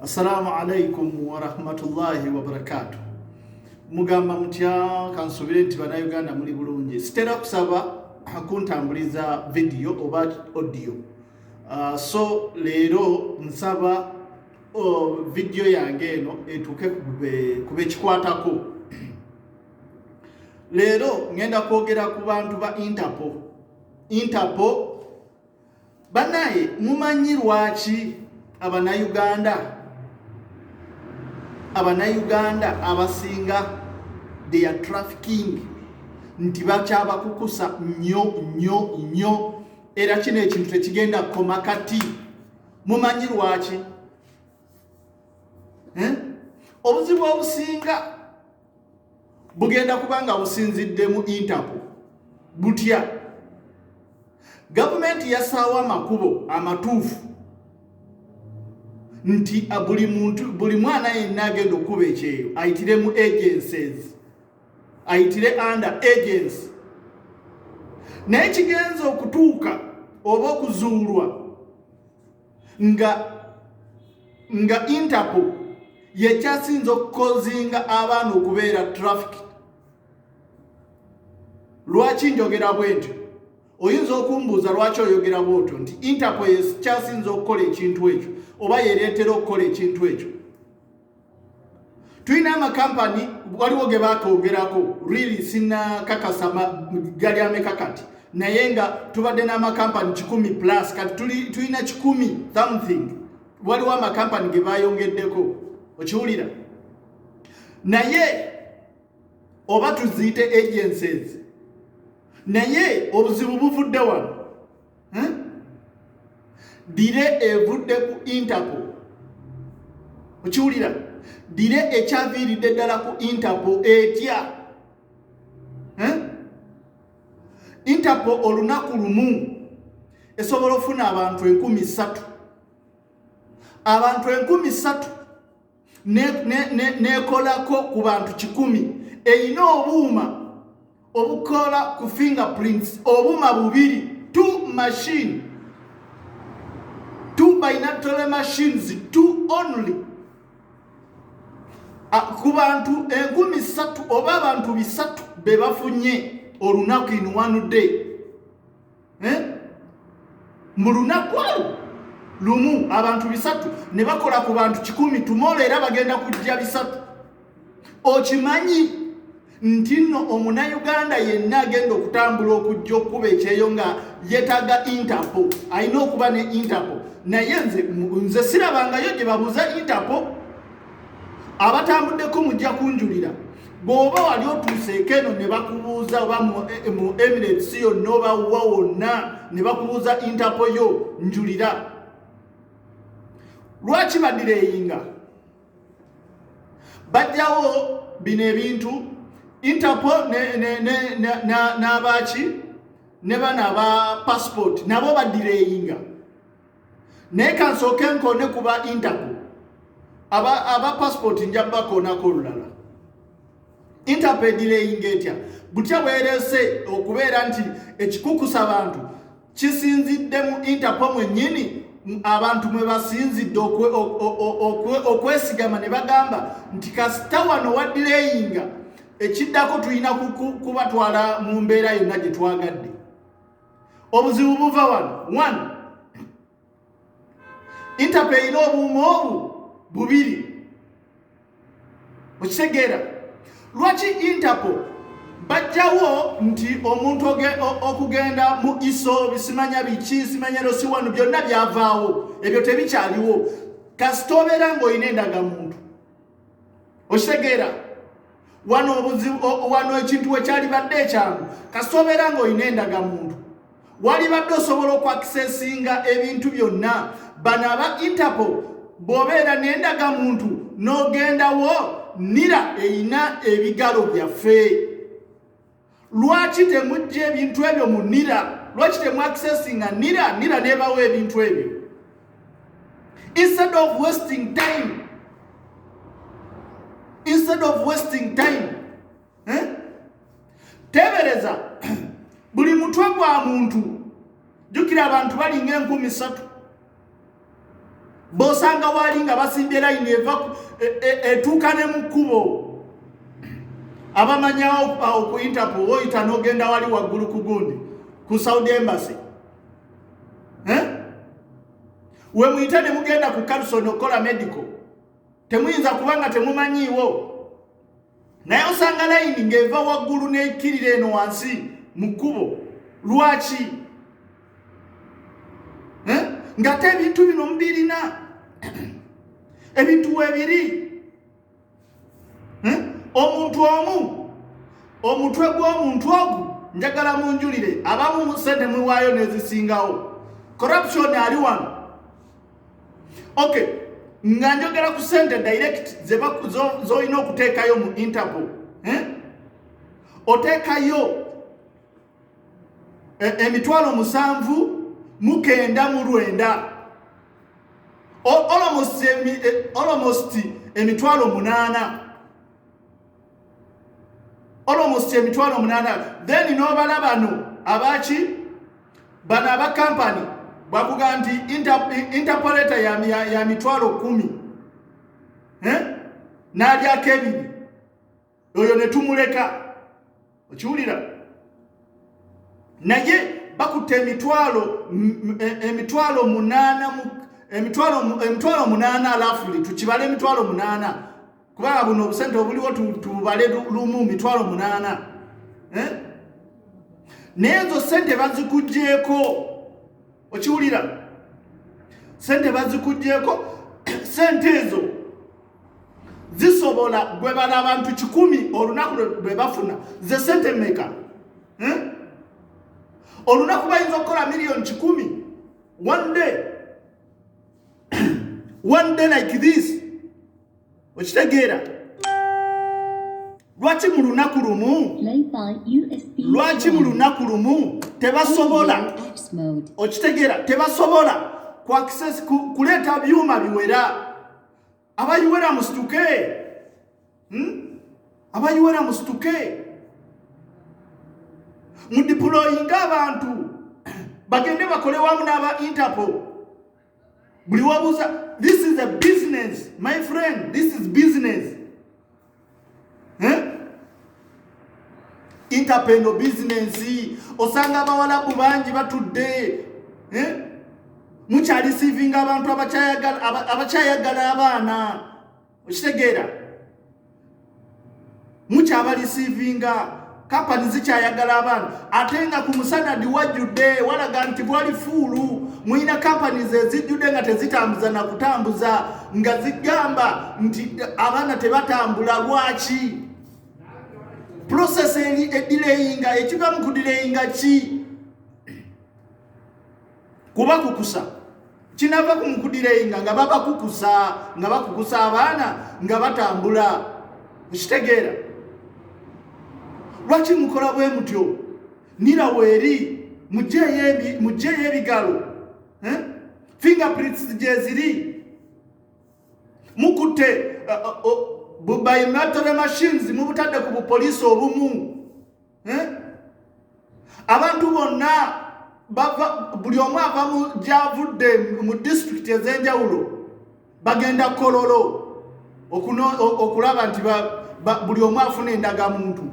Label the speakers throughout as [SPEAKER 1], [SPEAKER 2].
[SPEAKER 1] Assalamu alaikum warahmatullahi wabarakatu. Mugamba mutya kansubire nti banauganda muli bulungi. Sitera kusaba akuntambuliza video oba audio. Uh, so leero nsaba oh, video yange eno etuuke kubekikwatako. Leero ngenda kwogera ku bantu ba Interpol. Interpol banaye mumanyi lwaki abanayuganda abanayuganda abasinga they are trafficking nti bakyabakukusa nyo nyo nyo era kino ekintu tekigenda kukoma kati mumanyi lwaki eh? obuzibu obusinga bugenda kuba nga businzidde mu interpol butya gavumenti yasaawo amakubo amatuufu nti ah, buli muntu buli mwana yenna agenda okukuba ekyeyo ayitire mu agencies ayitire under agency naye kigenza okutuuka oba okuzuulwa nga nga interpol yekyasinza okukozinga abaana okubeera traffic lwaki njogera bwentyo oyinza okumbuuza lwaki oyogera bwotyo nti interpol yekyasinza okukola ekintu ekyo oba yereetera okukola ekintu ekyo tulina amakampani waliwo ge baatwogerako really sinakakasa gali ameka kati naye nga tubadde n'amakampani kikumi plus kati tulina kikumi something waliwo amakampani ge bayongeddeko okiwulira naye oba tuziyite agencies naye obuzibu buvudde wano hmm? dire evudde ku interpol okiwulira dire ekyaviiridde ddala ku interpol etya hmm? interpol olunaku lumu esobola okufuna abantu enkumi ssatu abantu enkumi ssatu nekolako ne, ne, ne ku bantu kikumi erina obuuma obukola ku fingerprints obuuma bubiri two machine two binatory machines two only ku bantu enkumi satu oba abantu bisatu bebafunye olunaku in one day eh? mu lunaku olwo lumu abantu bisatu ne bakola ku bantu kikumi tumoola era bagenda kujja bisatu okimanyi nti nno omunayuganda yenna agenda okutambula okujja okukuba ekyeyo nga yetaga interpo alina okuba ne interpo naye nze nze sirabangayo gye babuuza interpo abatambuddeko mujja kunjulira bw'oba wali otuuseeko eno ne bakubuuza oba mu eh, emirates yonna oba wa wonna ne bakubuuza intapo yo njulira lwaki badireyinga bajjawo bino ebintu intapo n'abaaki ne bana aba passport nabo badireyinga naye kansooke nkoone ku ba interpol aba, aba passport nja bakoonako olulala interpol edireyinga etya butya bwerese okubeera nti ekikukusa abantu kisinzidde mu interpol mwennyini abantu mwe basinzidde okwesigama ne bagamba nti kasita wano wadireyinga ekiddako tulina kubatwala mu mbeera yonna gye twagadde obuzibu buva wano one interpe erina obuuma obu bubiri okitegeera lwaki interpo bajjawo nti omuntu okugenda mu iso bisimanya biki simanyero si wano byonna byavaawo ebyo tebikyaliwo kasita obeera ng'olina endagamuntu okitegeera wano obuzibu wano ekintu wekyalibadde ekyangu kasita obeera ng'olina endagamuntu walibadde osobola okwakisesinga ebintu byonna bano aba interpo bw'obeera n'endagamuntu n'ogendawo nira erina ebigalo byaffe lwaki temujja ebintu ebyo mu nira lwaki temu accessinga nira nira nebawo ebintu ebyo instead of wasting time instead of wasting time eh? tebereza buli mutwe gwa muntu jukira abantu balinga enkumi satu bosanga waali nga basimbye layini eva e, e, etuuka ne mu kkubo abamanyawo ku interpol oyita n'ogenda wali waggulu ku gundi ku saudi embassy eh? we muyite ne mugenda ku carson okukola medical temuyinza kuba nga temumanyiiwo naye osanga layini ng'eva waggulu n'ekkirira eno wansi mu kkubo lwaki eh? ngate ebintu bino mubirina ebintu webiri eh? omuntu omu omutwe gw'omuntu ogu njagala munjulire abamu musente muwaayo nezisingawo corruption ali wano okay nga njogera ku sente direct zolina okuteekayo mu interpol eh? oteekayo e, emitwalo musanvu mukenda mu lwenda almost e, emitwalo munaana almost emitwalo munana then nobala bano abaki bano aba kampani bakuga nti interpoleta ya, ya, ya mitwalo kumi eh? nalyako ebiri oyo netumuleka okiwulira naye bakutte emitwalo e, emitwalo munana emitwalo munana alafuli tukibala emitwalo munana kubanga buno obusente obuliwo tububale lumu mitwalo munaana eh? naye ezo sente bazikugyeko okiwulira sente bazikugyeko sente ezo zisobola gwe bala abantu kikumi olunaku lwe bafuna ze sente meka eh? olunaku bayinza okukola miliyoni kikumi one day one day like this okitegeera lwaki mu lunaku lumu lwaki mu lunaku lumu tebasobola okitegeera tebasobola kuleeta byuma biwera abayiwera musituke hmm? abayiwera musituke mudipuloyinga abantu bagende bakole wamu n'aba interpol buli wabuuza this is a business my friend this is business eh? interpendo business osanga abawalabu bangi batudde eh? mukyalisivinga abantu abakyayagala abaana okitegeera mukyabalisiivinga kampani zikyayagala abantu ate nga ku musanadi wajjudde walaga nti bwali fuulu mulina kampani zezijjudde nga tezitambuza na kutambuza nga zigamba nti abaana tebatambula lwaki prosesi eri edileyinga ekiva mu kudileyinga ki kubakukusa kinava ku mukudirenga nga babakukusa nga bakukusa abaana nga batambula ekitegeera lwaki mukola bwe mutyo nira weeri mugyeyo ebigalo eh? fingerprints gyeziri mukutte uh, uh, uh, bubaimatore machines mubutadde ku bupoliisi obumu eh? abantu bonna buli omu ava mu gyavudde mu disitulikiti ez'enjawulo bagenda kololo okulaba nti buli omu afuna endagamuntu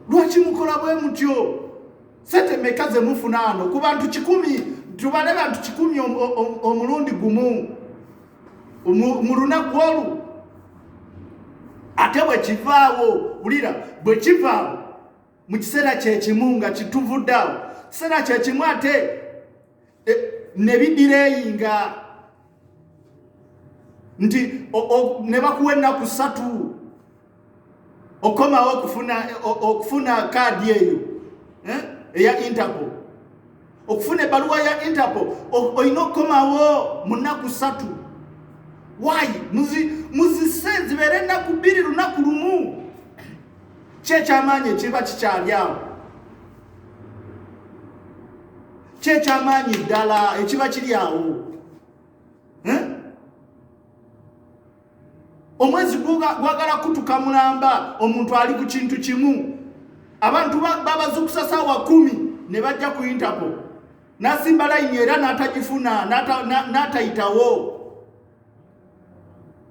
[SPEAKER 1] lwaki mukola bwe mutyo sente meka ze mufuna ano ku bantu kikumi tubale bantu kikumi omulundi gumu mu lunaku olwo ate bwe kivaawo wulira bwe kivaawo mu kiseera kyekimu nga kituvuddaawo kiseera kyekimu ate e, ne bidireyinga nti ne bakuwa ennaku ssatu okomawo okufuna okufuna kaadi eyo eh, eya interpol okufuna ebaluwa ya interpol olina okukomawo mu nnaku satu wayi muzise zibeere ennaku bbiri lunaku lumu kyekyamaanyi ekiba kikyali awo kyekyamaanyi ddala ekiba kiri awo eh? omwezi gwagala kutuka mulamba omuntu ali ku kintu kimu abantu babazukusa saawa kumi ne bajja ku intako nasimba layini era natagifuna natayitawo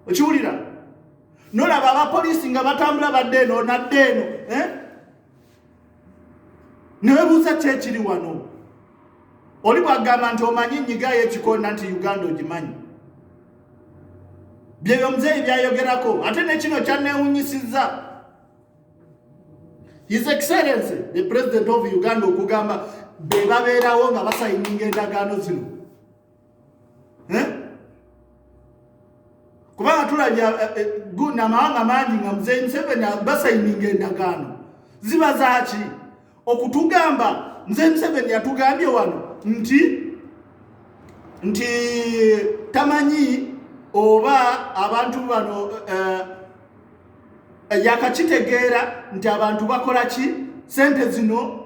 [SPEAKER 1] okiwulira nolaba abapoliisi nga batambula badde eno nadde eno eh? newebuuza ki ekiri wano oli bwagamba nti omanyi nyigayo ekikonda nti uganda ogimanyi byebyo muzeeyi byayogerako ate nekino kyanewunyisiza his excellence the president of uganda okugamba bebabeerawo nga basayininga endagaano zino eh? kubanga tulabye eh, eh, namawanga mangi nga muzeyi museveni basayininga endagaano ziba zaki okutugamba muzeyi museveni yatugambye wano nti nti tamanyi oba abantu bano eh, yakakitegeera nti abantu bakola ki sente zino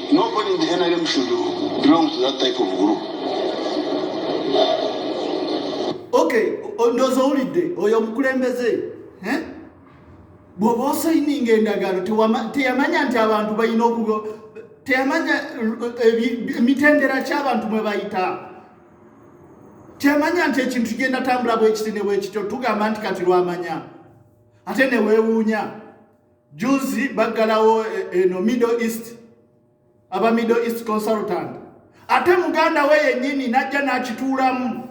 [SPEAKER 2] Nobody in the NRM should belong
[SPEAKER 1] to that type of group. Okay, ndozo ulide oyo omukulembeze eh? bw'oba osayininga endagaano teyamanya nti abantu balina okuba teyamanya eh, emitendera ky'abantu mwe bayita teyamanya nti ekintu kigenda tambula bwekiti ne bwekityo tugamba nti kati lwamanya ate neweewuunya juzi baggalawo eh, eno eh, middle east aba middle east consultant ate muganda we yennyini najja n'akituulamu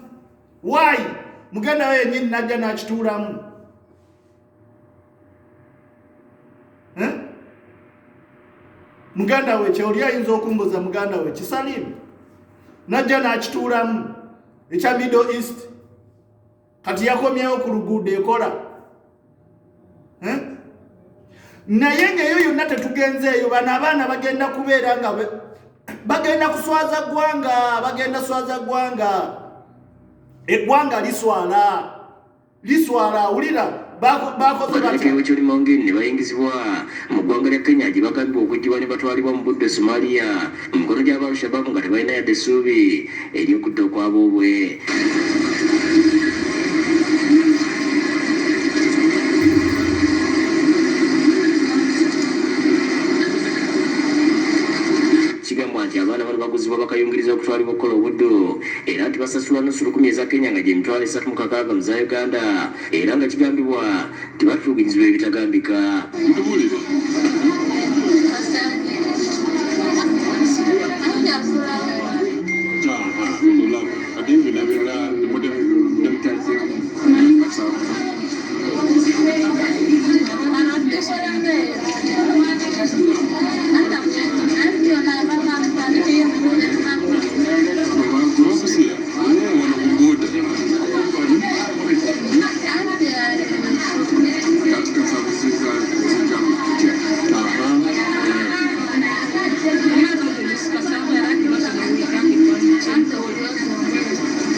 [SPEAKER 1] waayi muganda we yennyini najja n'akituulamu eh? muganda we kyeoli ayinza okumbuza muganda we kisalimu najja n'akituulamu ekya middle east kati yakomyewo ku luguudo ekola eh? naye ngaeyo yonna tetugenzeeyo bano abaana bagenda kubeera nga bagenda kuswaza ggwanga bagenda swaza ggwanga eggwanga liswala liswala awulira babaletera wekirimangeni
[SPEAKER 3] ne bayingizibwa mu ggwanga lya kenya gye bagambibwa okuggyibwa ne batwalibwa mu budde somalia mu mikono gy'aba alshababu nga tebalina yadde essuubi ery'okudda okwaboobwe bakayungiriza okutwalibwa okukola obuddu era nti basasulwa nusu lukumi eza kenya nga gyemitwalo esatu mu kakaaga mu za uganda era nga kigambibwa nti batuubirizibwa ebitagambika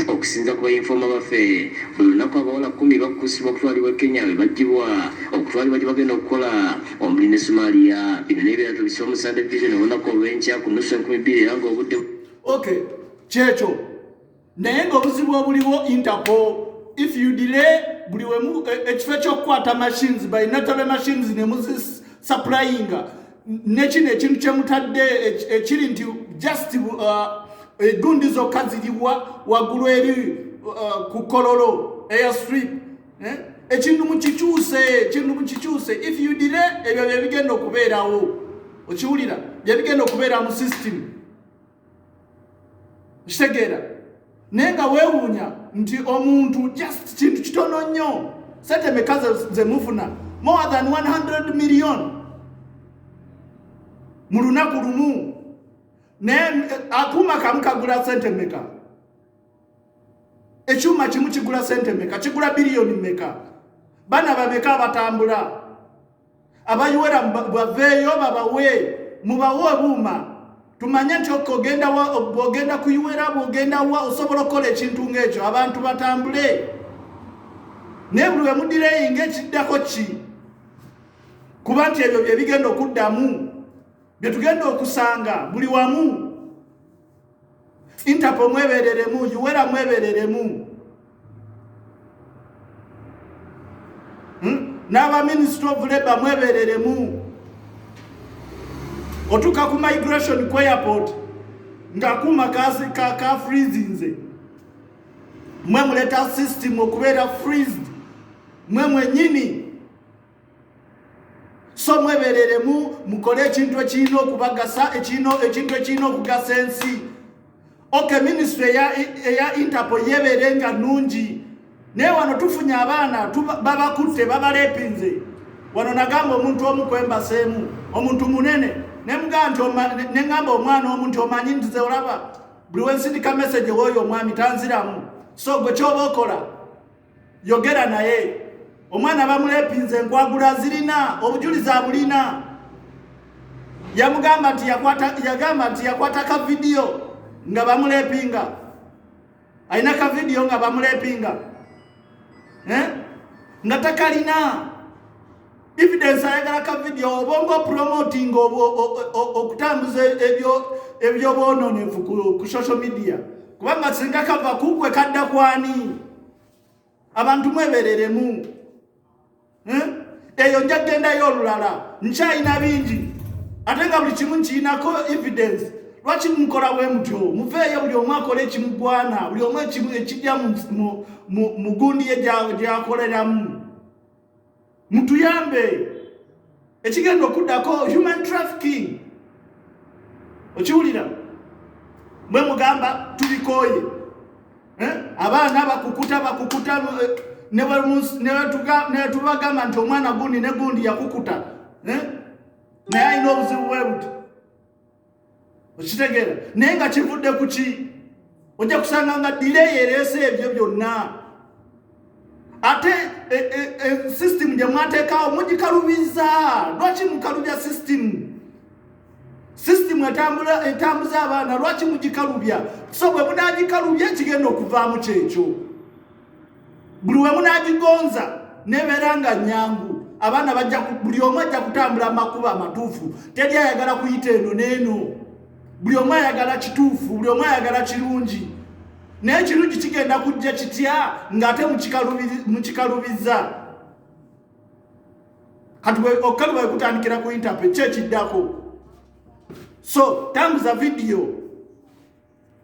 [SPEAKER 3] okusinza ku bayinfoma baffe buli lunaku abawala kumi bakukusibwa okutwalibwa e kenya be baggyibwa okutwalibwa gye bagenda okukola omuli ne somalia bino n'ebirala tubise omusande vision olunaku olw'enkya ku nusu enkumi bbiri era ng'obudde okay
[SPEAKER 1] kyekyo naye nga obuzibu obuliwo interpol if you delay buli wemu e, ekifo ekyokukwata machines by natale machines nemuzisapplyinga nekino ekintu kyemutadde ekiri nti just uh, egundi zokka ziriwa waggulu eri uh, ku kololo air strip eh? ekintu mukikyuse ekintu mukikyuse if you delay ebyo byebigenda okubeerawo okiwulira byebigenda okubeera mu system kitegeera naye nga weewuunya nti omuntu just kintu kitono nnyo sente meka ze mufuna more than 100 million mu lunaku lumu naye eh, akuuma kamu kagula sente meka ekyuma kimu kigula sente meka kigula biliyoni meka bana bameka abatambula abayiwera baveeyo babawe mubawe obuuma tumanye nti okogenda bwogenda kuyiwera bwogenda wa osobola okukola ekintu ngaekyo abantu batambule naye buli wemudireyi ngaekiddako ki kuba nti ebyo byebigenda okuddamu byetugenda okusanga buli wamu Interpol mwebereremu, Uwera mwebereremu. Hmm? N'aba Ministry of Labor mwebereremu. Otuka ku migration ku airport ngakuma kasi ka, ka freezinze mwe muleta system okubeera freezed mwe mwenyini so mwebereremu mukole ekintu ekirina okubagasa ekintu ekirina okugasa ensi ok minisitule eya interpol yebeere nga nungi naye wano tufunye abaana babakutte babalepinze wano nagamba omuntu omu kwembaseemu omuntu munene neŋamba omwana omu nti omanyi ntize olaba buli wensindika message woyo omwami tanziramu so gwe kyoba okola yogera naye omwana bamulepinze enkwagula zirina obujulizi abulina yamugamba nti yagamba nti yakwata ka vidiyo nga bamulepinga alina ka vidiyo nga bamulepinga eh? nga takalina evidence ayagala ka video obonga promoting okutambuza ebyo ebyobwononefu ku social media kubanga singa kava kukwe kadda kwani abantu mwebereremu eh? eyo nja kugendayo olulala nkyayina bingi ate nga buli kimu nkiyinako evidence lwaki mukola bwe mutyo muveeyo buli omu akola ekimugwana buli omu ekimu ekijja mu gundi ye gyakoleramu mutuyambe ekigenda okuddako human trafficking okiwulira mwe mugamba tubikooye eh? abaana bakukuta bakukuta eh, netubagamba nti omwana gundi ne gundi yakukuta eh? naye alina obuzibu bwebuti okitegeera naye nga kivudde ku ki ojja kusanga nga direyi ereese ebyo byonna ate e, e, e, system gye mwateekawo mugikalubiza lwaki mukalubya system system etambuza abaana lwaki mugikalubya so bwe munagikalubya ekigenda okuvaamu kyekyo buli wemu n'agigonza nebeera nga nyangu abaana bajja buli omu ajja kutambula amakubo amatuufu teri ayagala kuyita eno n'eno buli omu ayagala kituufu buli omu ayagala kirungi naye kirungi kigenda kujja kitya ng'ate mukikalubiza kati okukaluba wekutandikira ku intape kyekiddako so tambuza vidiyo